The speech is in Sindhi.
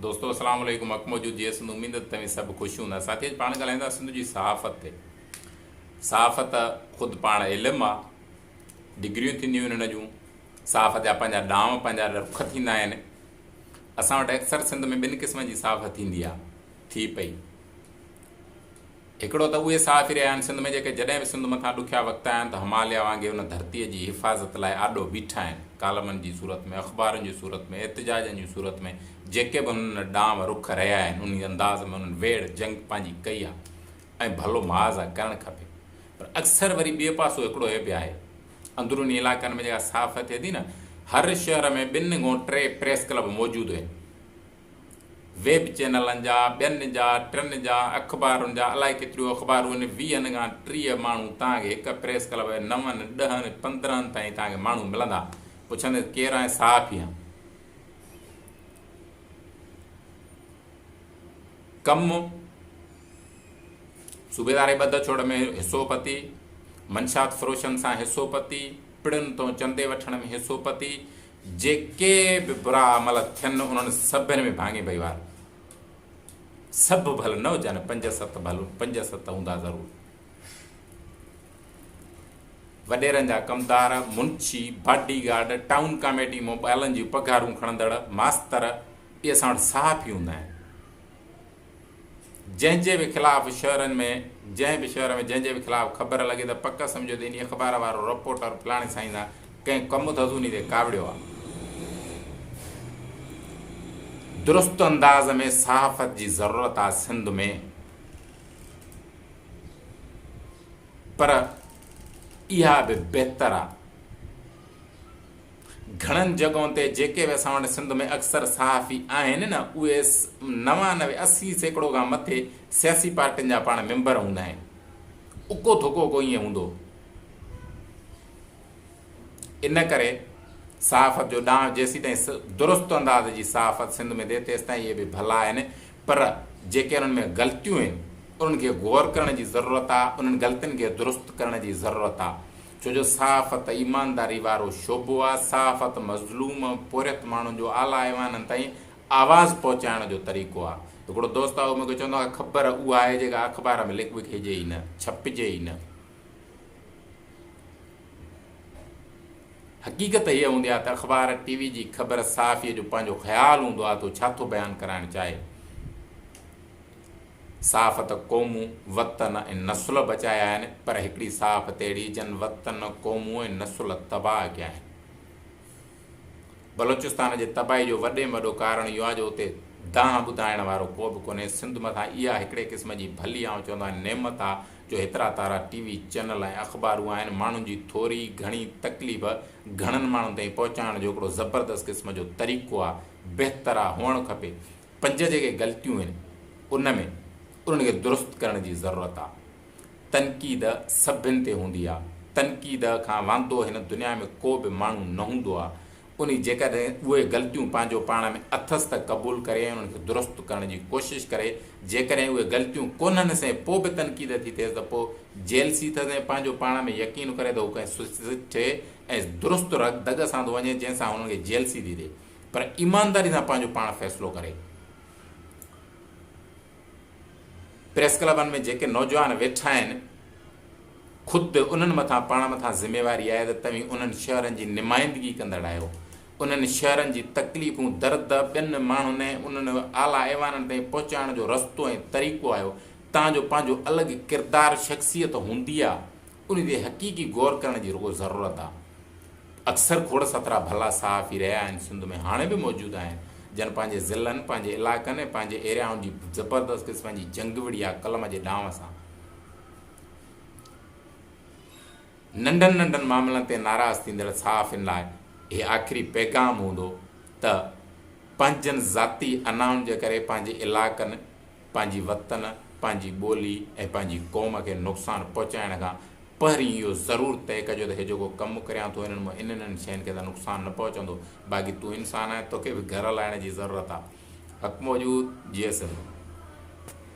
دوستو السلام عليڪم حق موجود جي سنڌ اميد ته توهين سڀ خوش هوندا ساٿي اڄ پاڻ ڳالهائيندا سنڌ جي صحافت تي صحافت خود پاڻ علم آ ڊگريون ٿينديون آهن هن جون صحافت جا پنهنجا ڏام پنهنجا رخ ٿيندا آهن اسان وٽ اڪثر سنڌ ۾ ٻن قسمن جي صحافت ٿيندي آ ٿي پئي هڪڙو ته اهي صحافي رهيا آهن سنڌ ۾ جيڪي جڏهن به سنڌ مٿان ڏکيا وقت آيا آهن ته هماليا وانگي ان ڌرتيء جي حفاظت لاء آڏو بيٺا آهن. ڪالمن جي صورت ۾، اخبارن جي صورت ۾، احتجاجن جي صورت ۾ جيڪي به هنن ڏانء رخ رهيا آهن انهي انداز ۾ انهن ويڙهه جنگ پنهنجي ڪئي آهي ۽ ڀلو محاذ آهي ڪرڻ کپي پر اڪثر وري ٻئي پاسو هڪڙو هي به آهي اندروني علائقن ۾ جيڪا صحافت ٿئي ٿي نه هر شهر ۾ ٻن گون ٽي پريس ڪلب موجود هين. ويب چينلن جا، ٻين جا، ٽن جا، اخبارن جا الائي ڪيتريون اخبارون آهن، ويهن کان ٽيهه ماڻهو توهان کي هڪ پريس ڪلب ۾ نون، ڏهن، پندرهن تائين توهان کي ماڻهو ملندا، پڇندين ڪير آهين؟ صحافي آهيان. ڪم، صوبيداري ٻڌ ڇوڙ ۾ حصو پتي، منشيات فروشن سان حصو پتي، پڙن تون چندي وٺڻ ۾ حصو پتي، جيڪي به برا عمل ٿين انهن سڀن ۾ ڀاڱي ڀئي وار سڀ ڀل نه هجن پنج ست ڀل پنج ست هوندا ضرور وڏيرن جا ڪمدار منشي باڊي گارڊ ٽائون ڪاميٽي مون ٻالن جون پگهارون کڻندڙ ماستر اهي اسان وٽ صحافي هوندا آهن جنهن جي به خلاف شهرن ۾ جنهن به شهر ۾ جنهن جي به خلاف خبر لڳي ته پڪ سمجهو ته انهي اخبار وارو رپورٽر فلاڻي سائين سان ڪنهن ڪم ڌڌوني تي ڪاوڙيو آ. درست انداز ۾ صحافت جي ضرورت آ سنڌ ۾ پر اها به بهتر آ. گهڻن جڳهن تي جيڪي به اسان وٽ سنڌ ۾ اڪثر صحافي آهن نه اهي نوانوي اسي سيڪڙو کان مٿي سياسي پارٽين جا پاڻ ميمبر هوندا آهن اڪو ڌڪو ڪو ائين هوندو ان ڪري صحافت جو ڏانء جيسيتائين درست انداز جي صحافت سنڌ ۾ ٿئي تيستائين اهي به ڀلا آهن پر جيڪي انهن ۾ غلطيون آهن انهن کي غور ڪرڻ جي ضرورت آهي انهن غلطين کي درست ڪرڻ جي ضرورت آهي ڇو جو صحافت ايمانداري وارو شعبو آ، صحافت مظلوم ۽ پورهيت ماڻهن جو اعليٰ ايوانن تائين آواز پهچائڻ جو طريقو آ. هڪڙو دوست آ اهو مون کي چوندو آ خبر اها آهي جيڪا اخبار ۾ لک وکيجي ئي نه، ڇپجي ئي نه. حقيقت هيء هوندي آ ته اخبار، ٽي وي جي خبر صحافيء جو پنهنجو خيال هوندو آ ته هو ڇا ٿو بيان ڪرائڻ چاهي. صاف ته قومون، وطن ۽ نسل بچايا آهن پر هڪڙي صاف ته اهڙي جن وطن، قومون ۽ نسل تباهه ڪيا آهن. بلوچستان جي تباهي جو وڏي ۾ وڏو ڪارڻ اهو آهي جو اتي دانهن ٻڌائڻ وارو ڪو به ڪونهي. سنڌ مٿان اها هڪڙي قسم جي ڀلي آئون چوندو آهيان نعمت آهي جو هيترا تارا ٽي وي چئنل ۽ اخبارون آهن. ماڻهن جي ٿوري گهڻي تڪليف گهڻن ماڻهن تائين پهچائڻ جو هڪڙو زبردست قسم جو طريقو آهي. بهتر آهي هئڻ کپي. پنج جيڪي غلطيون آهن ان ۾ انهن کي درست ڪرڻ جي ضرورت آ. تنقيد سڀن تي هوندي آ. تنقيد کان واندو هن دنيا ۾ ڪو به ماڻهو نه هوندو آ. انهي جيڪڏهن اهي غلطيون پنهنجو پاڻ ۾ اٿس ته قبول ڪري ۽ انهن کي درست ڪرڻ جي ڪوشش ڪري. جيڪڏهن اهي غلطيون ڪونهن سين پو به تنقيد ٿي ٿئيس ته پو جيلسي ٿئس ۽ پنهنجو پاڻ ۾ يقين ڪري ته هو ڪنهن سٺي ۽ درست دڳ سان ٿو وڃي جنهن سان انهن کي جيلسي ٿي ٿئي. پر ايمانداري سان پنهنجو پاڻ فيصلو ڪري. پريس ڪلبن ۾ جيڪي نوجوان ويٺا آهن، خود انهن مٿان پاڻ مٿان ذميواري آهي ته توهين انهن شهرن جي نمائندگي ڪندڙ آهيو. انهن شهرن جي تڪليفون، درد ٻين ماڻهن ۽ انهن اعليٰ ايوانن تائين پهچائڻ جو رستو ۽ طريقو آهيو. تهان جو پنهنجو الڳ ڪردار، شخصيت هوندي آ. ان تي حقيقي غور ڪرڻ جي رڳو ضرورت آ. اڪثر کوڙ سترا ڀلا صحافي رهيا آهن سنڌ ۾ هاڻي به موجود آهن جن پنهنجي ضلعن، پنهنجي علائقن ۽ پنهنجي ايريائن جي زبردست قسم جي جنگ وڙهي آ قلم جي ڏانء سان. ننڍن ننڍن معاملن تي ناراض ٿيندڙ صحافين لاء هي آخري پيغام هوندو ته پنهنجن ذاتي انائن جي ڪري پنهنجي علائقن، پنهنجي وطن، پنهنجي ٻولي ۽ پنهنجي قوم کي نقصان پهچائڻ کان پهرين اهو ضرور طئي ڪجو ته هي جيڪو ڪم ڪريان ٿو هنن مان انهن انهن شين کي ته نقصان نه پهچندو باقي تون انسان آهين توکي به گهر هلائڻ جي ضرورت آهي حق موجود جيئي سنڌ.